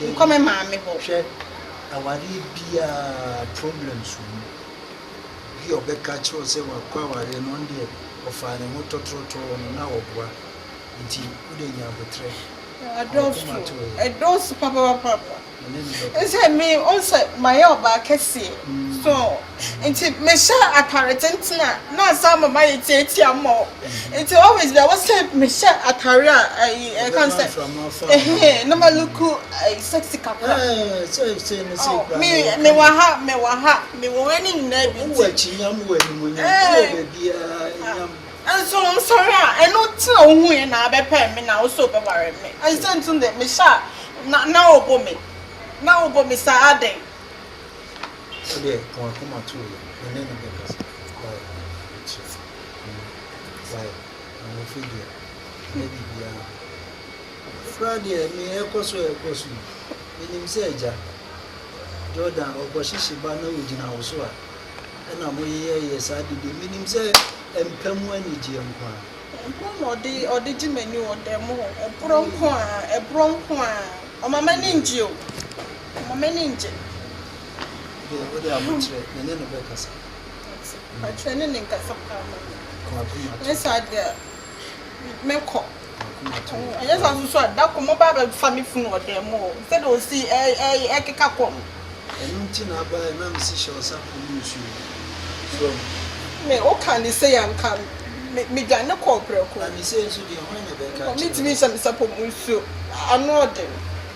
Nkɔ me maame hɔ. Hwɛ awareɛ biaa problems wɔ mu obi a ɔbɛka kyerɛ wo sɛ wakɔ awareɛ no ɔno deɛ ɔfaa ne ho tɔtrɔtɔɔ no na ɔboa nti wode nya abotrɛ na wakoma to yɛ. Ɛdɔɔso papapapapa ɛne ne bɛkɔ. Sɛ me ɔsɛ mayɛ ɔbaa kɛseɛ so. Nti mehyɛ atare tenten a na asan ama mayɛ tiatia ama wo. Nti always bia wo sɛ mehyɛ atare a ɛyi ɛka no sɛ ɛhɛn na ma look ɛyi sexy kakra. Me me wɔ ha me wɔ ha me wɔ wei ne nyinaa bi. Wɔ akyi nyam wɔ anim nyam wɔ baabiara nyam. Nso nsɔre a ɛno ti na wohu yɛ na abɛpɛ me na wo so bɛware me. Ɛsɛ ntum dɛ mehyɛ a na na wobɔ me na wobɔ me saa adɛn. Wodeɛ wɔn akoma too yɛ me ne no bɛkasa wai mekyerɛ mo wai ahofi deɛ ɛnyɛ biribiara koraa deɛ me ɛkɔ so ɛkɔ so yi menim sɛ agya Jordan ɔkɔ hyehye ba na ɔgyina wo so a ɛna mo yeyɛyɛ saa de deɛ menim sɛ ɛmpa mu anigyeɛ nko ara ɛborɔ na ɔde ɔde gye m'ani wɔ dan mu hɔ ɛborɔ nko ara ɛborɔ nko ara ɔma m'ani ngye o. Mma m'ani nngye. Deɛ wode abokyerɛ me ne no bɛkasa. Abokyerɛ ne ne nkasa paa ma me. Ɛnyɛ saa deɛ a mɛkɔ. Ɛnyɛ saa nso a da koro moba abɛfa me funu wɔ dan mu o, sɛdeɛ ɔsi ɛkeka kɔ no. Ɛno nti na aba yɛ na mesi hyɛ ɔsa kɔm nsuo mu. So ahu. Me woka ne sei a nka medwane kɔɔ prɛko. Na ne sei nso deɛ hwan na ɛbɛka akyerɛ wo. Ɔntumi nhyɛ me sapɔ mu nsuo, ano ɔden.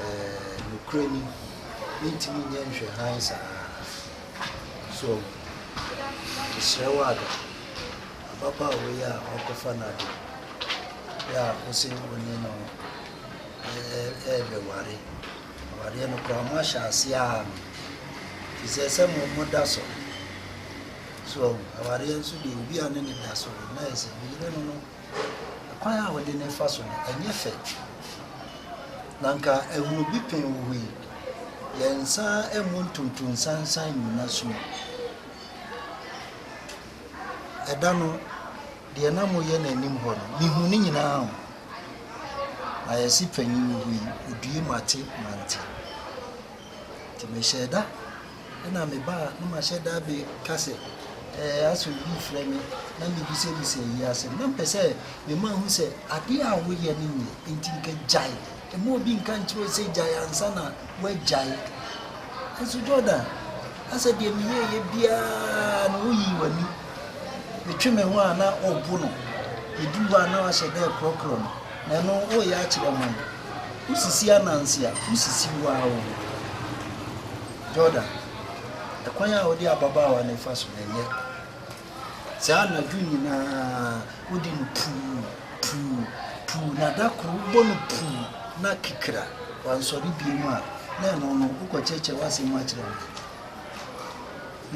eh, nokorɛ ni, mentumi nyɛ nhwɛ hann saa. So mesrɛ wo Ada, ababaawa yi a wakɔfa n'ade, bɛ a wose wo ne no ɛɛbɛware, awareɛ no koraa moahyɛ aseɛ a no, te sɛ sɛ mo mo da so. So awareɛ nso deɛ obi a ne ne da so no, na ɛsɛ ne yere no no Kwan a wɔde no fa so no, ɛnyɛ fɛ. Na anka ahuro bi pɛn wɔ hɔ yi. Yɛn nsa mmu ntonto nsansan nnyina sum. Ɛda no, deɛ na moyɛ no anim hɔ no, mehu ne nyinaa o. Na yɛse panyin wɔ hɔ yi, odue mate mante. Nti mehyɛɛ da. Nna meba a na mahyɛ da abɛka sɛ, Ɛɛ, asɛ obi refrɛ me, na mebisabisa eyi asɛm. Nna mepɛ sɛ mema ohu sɛ ade a woyɛ no nyɛ, ntsi nka gyae. Mma obi nnka nnkyerɛ wo sɛ gyae ansa na woegyae. Naaso Jordan, asɛ deɛ meyɛeɛ biara no, woyii w'ani. Metwe me ho a na ɔbo no. Yɛduruu hɔ a na ɔahyɛ da rekorɔkorɔ no. Na ɛno woreyɛ akyerɛ ɔman no. Wosisi ananse a, wosisi wo ara wo ho. Jordan, ɛkwan a wode ababaawa no refa so no, ɛnyɛ saa. Anadwo nyinaa wode no puu, puu, puu, na da koro wobɔ no puu, na kikira wansɔre biom a, na ɛno no, wokɔkyerɛkyerɛ w'asɛm mu akyerɛ ɔman no.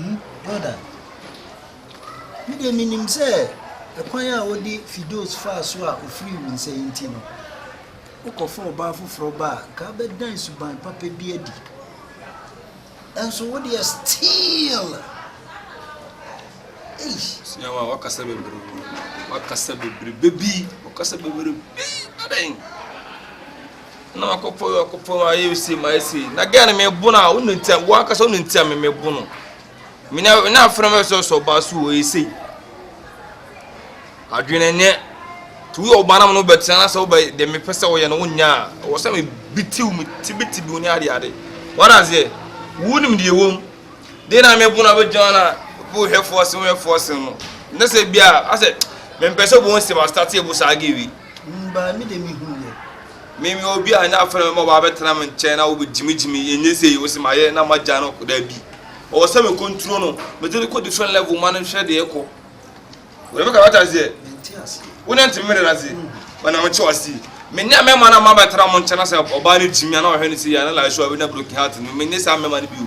Hmm? Jordan. Me deɛ menim sɛ ɛkwan a wode Fidos faa so a ɔfirii wo nsa yi nti no, wokɔfa ɔbaa foforɔ ba a, nka abɛdan suban papa bi adi. Ɛnso wo deɛ still. Ei. Siawa, wakasa bebrebe. Wakasa bebrebe bi. Wakasa bebrebe bi. Adan. Na wakɔpɔ wakɔpɔ ayɛ ose ma ese. Na gɛn me bo na wo ne ntia. Wo akasa wo ne ntia me me bo no. Mina na afena mɛ sɔ sɔ ba su oye sei. Adwene nyɛ. Ti woyɛ ɔbaa na mo no bɛtena na sɛ wobɛ de mepɛ sɛ wɔyɛ no wonya a wɔ sɛ mebitiw me tibitibiw ne ade ade. Wada aseɛ. Wonim deɛ wɔm. Deɛ na mebo no abɛgyina na wohwɛfoɔ se wohwɛfoɔ se no. Ne sɛ bi a asɛ mempɛ sɛ wɔn nsɛm astate ɛbo saa gewi. Mbaa mi de mehunu yɛ. Me meyɛ obi a ɛnyɛ afei na mɛma wabɛtena me nkyɛn na wobɛgyimigyimi ɛnyɛ sei wo se mayɛ na magya no kɔ daabi ɔwɔ sɛ me kɔnturo no mede no kɔ different level ma no nhwɛ deɛ ɛkɔ wòlẹ́fẹ́ kàwé ta seɛ wọ́n náà ti mi rẹ̀ ase wọ́n náà ti wá sí mi ní àmì ẹ̀ma náà má bàa tẹ̀ra mo nkyɛn náà sɛ ɔbaa no gyimi àná ɔhwɛ ne si yɛ àná làásù àwé náà broken heart no mi ní sá mẹ́ma no bi o.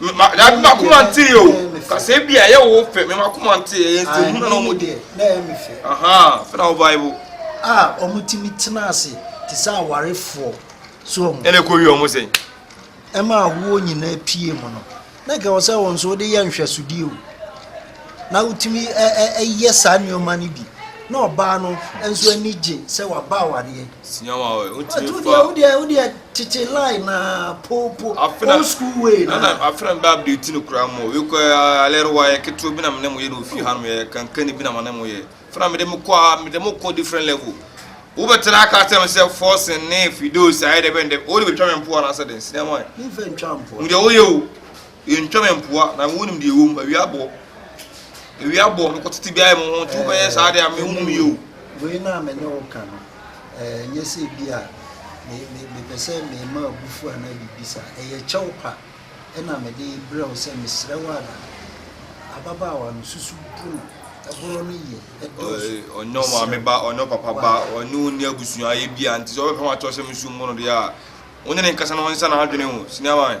M'akoma ntee o kasa ebi a ɛyɛ wo fɛ mɛ m'akoma ntee ɛyɛ nsɛm na wɔn di. Na ɛyɛ mi fɛ. Fɛn awo baibu. A wɔn ti mi tena ase te sɛ awarefoɔ so wɔn. Ɛna ekɔ wi wɔn sɛn. Ɛma ahoɔ nyinaa pie mu no na nka wɔn sɛ wɔn nso wɔde yɛ nhwɛsodie o na wotumi ɛyɛ saa nneɛma no bi na ɔbaa no nso ani gye sɛ waba awareɛ. Sua wa ɔɛ o timi fa. Wo deɛ wo deɛ tete line na poo po old school way na. Nana afena mi bɛ update no kura mo wi kɔ alɛri wa yɛ ketewa bi na mi ne mo yɛ na ofi hanom yɛ kankani bi na ma ne mo yɛ fena mi de mo kɔ mi de mo kɔ different level. Wo bɛ tena aka kyerɛ mi sɛ forcing ne fidos ayɛ dɛ bɛn dɛ o de bɛ twa mi mpoa na asɛ dɛn sini ama yɛ. Mi nfa ntwa mpoa. Mo deɛ o yɛ o. Yɛntwa me mpoa na wonim deɛ ɛwɔ mu, awia bɔ, awia bɔ, mekɔ tete biara mo ho, nti wobɛyɛ saa deɛ a me wonim yɛ o. Wei no a me ne wo ka no, ɛnyɛ sɛ bi a mepɛ sɛ mema abufuo anaa biribi saa, ɛyɛ kyɛw pa na mede brɛ wo sɛ mesrɛ wo ara, ababaawa no susu bu no, ɛborɔ no yɛ, ɛdɔɔso, ɔnyɛ wo maame ba, ɔnyɛ wo papa ba, ɔne wo nni abusuayɛ bi a, nti sɛ wobɛpɛ ho akyerɛ sɛ mesu mmo no deɛ a, wo ne ne nkasa na ɔnsesa n'adwene o, sini ama me.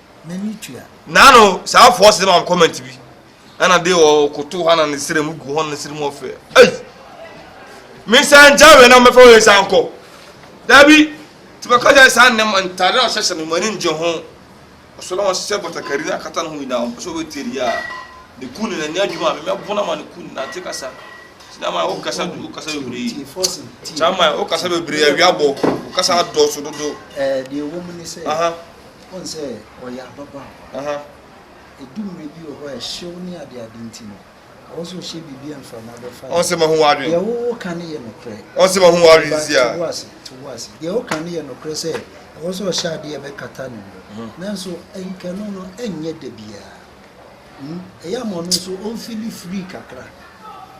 n'ani tua. Na no saa force de ma comment bi ɛna de ɔkoto hɔ na ne srɛ mu gu hɔ ne srɛ mu ɔfɛ ei mensan gya wei na mɛfa wei san kɔ dabi nti bɛka gya saa nnɛm ntade a ɔhyɛhyɛ no mani ngye ho ɔsɔ na ɔhyɛ batakari no akata no ho nyinaa ɔmpɛ sɛ ɔbɛtie deɛ a ne ku ne nani adwuma a memɛbo no ma ne ku ne nante kasa sinama wokasa du wokasa bebree sama wokasa bebree awia bɔ wokasa adɔɔso dodo deɛ ɛwɔ mu ne sɛ Woahu sɛ ɔyɛ ababaawa? Aha. Edu mmere bi wɔ hɔ a ɛhyew ne adeade nti no, ɛwɔ sɛ ɔhyɛ biribi a mframa bɛfa no. Ɔn sɛ mahu w'adwene. Deɛ woka no yɛ nokorɛ. Ɔn sɛ mahu w'adwene si a. Te wo ase, te wo ase. Deɛ woka no yɛ nokorɛ sɛ ɛwɔ sɛ ɔhyɛ adeɛ a ɛbɛkata ne ho. Nanso nkɛno no nyɛ da biara. Ɛyɛ a ma ɔno nso ɔmfili free kakra.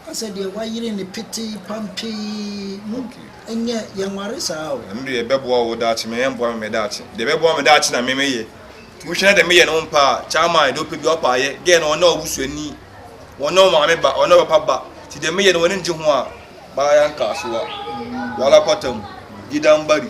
Woahu sɛ deɛ wayere no petee pampee no, ɛnyɛ yɛnware saa o. Ɛno deɛ ɛbɛboa wo daakye, ma ɛmmoa me me daakye. Deɛ ɛbɛboa me daakye na me meyɛ. Nti wohwɛ na deɛ meyɛ no wompɛ a, Chairman deɛ ɔpɛ bi ɔpɛ a yɛ. Girl no ɔno na wo busuani, ɔno na wo maame ba, ɔno na wo papa ba. Nti deɛ meyɛ no w'ani ngye ho a, baa yɛanka asowa. Wala kwata mu, gida mbari.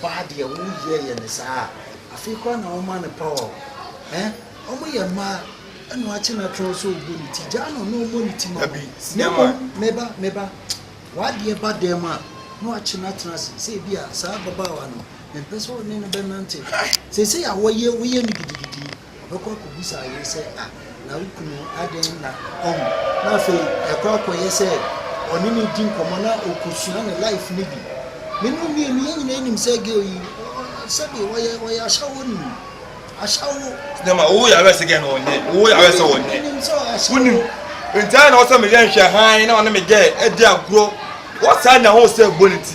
Ɔbaa deɛ wo yɛ yɛ no saa a afei koraa na wo ma no power o eh Ɔmo yɛ mmaa ɛna wakye natron sɛ ɔbɔ ne ti gyaa no na ɔmɔ ne ti ma wo Na mmom me ba me ba wadeɛ ba dan mu a na wakye no atena ase sɛ ebia saa ababaawa no mempɛ sɛ wo ne no bɛnante Seisei a wɔyɛ woyɛ no gidigidi yi Ɔbɛkɔ akɔbisa ayere sɛ, A, na wo kunu adɛn na ɔwu? Na afei ɛkɔ akɔyɛ sɛ ɔne no di nkɔmmɔ na ɔkɔsua ne life no bi. Me ne wo mmienu, yɛn nyinaa nim sɛ girl yi, sɛbe ɔyɛ ɔyɛ ashawo ni. Ashawo. Nyama, wo yare sɛ girl no ɔnyɛ, wo yare sɛ ɔnyɛ. Wonim sɛ ɔyɛ ashawo. Wonim. Nti ayɛ na ɔsɛ meyɛ nhwɛ hann na ɔne me girl adi agorɔ. Wɔ saa nya ho sɛ bɔ ne ti.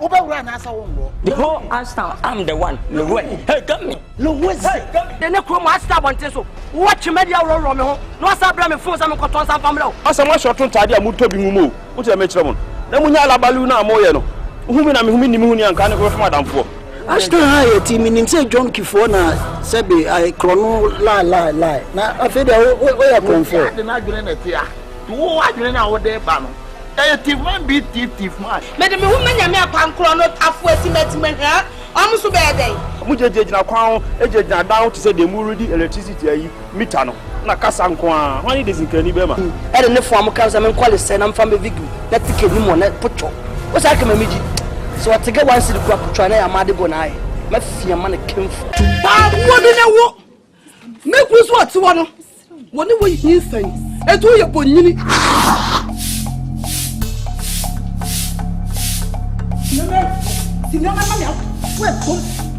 wobɛwura anaasɛ wonwɔ the whole ashtown am the one lowɛ hey gami lowɛ zi de ne kurom ashtown abɔnten so wowɔ twemadi aworɔworɔ me ho na wasa brɛ me fon sɛ menkɔtɔ nsa mfa mmerɛ wo asɛ moahyɛ ɔto ntaade a motɔ bi mu mu o wote dɛ mekyerɛ mo no na monya alabalu no a moyɛ no wohu me na mehu me nni me ho ni anka ne kɔbɛfam adamfoɔ Ashton ha yɛ ti minim sɛ John Kifoɔ na sɛbe ayɛ krɔno lie lie lie na afei deɛ wo wo yɛ krɔnfoɔ. Obiara de n'adwene na ɛte a, to wo adwene no a wode reba no, ɛyɛ thief man beat thief thief man. Mede me ho ma Nyame akwan korɔ no tafo asi m'ati mɛhwɛ wɔn nso bɛyɛ dɛn. Wɔgyinagyina kwan ho gyinagyina adan ho te sɛ deɛ moredi electricity ayi. Mita no na kasa nko ara, hwan ne Dezinkani bɛma? N, ɛde ne foam ka no sɛ menkɔ lesɛe na mfa mbɛvig m, na ticket no mu ɔ, na potwɔ o saa kama megye sɛ ɔte gɛ one cedi kura potwɔ a na ɛyɛ amaade bɔ na ayɛ mafia ma no kemfo. Paa boɔ bi ne wo me kunu so ɔte hɔ no wɔ ne wɔ hii sɛn ɛtu woyɛ bɔ nyini. Nana, si nana ma me ato, wo ɛbom.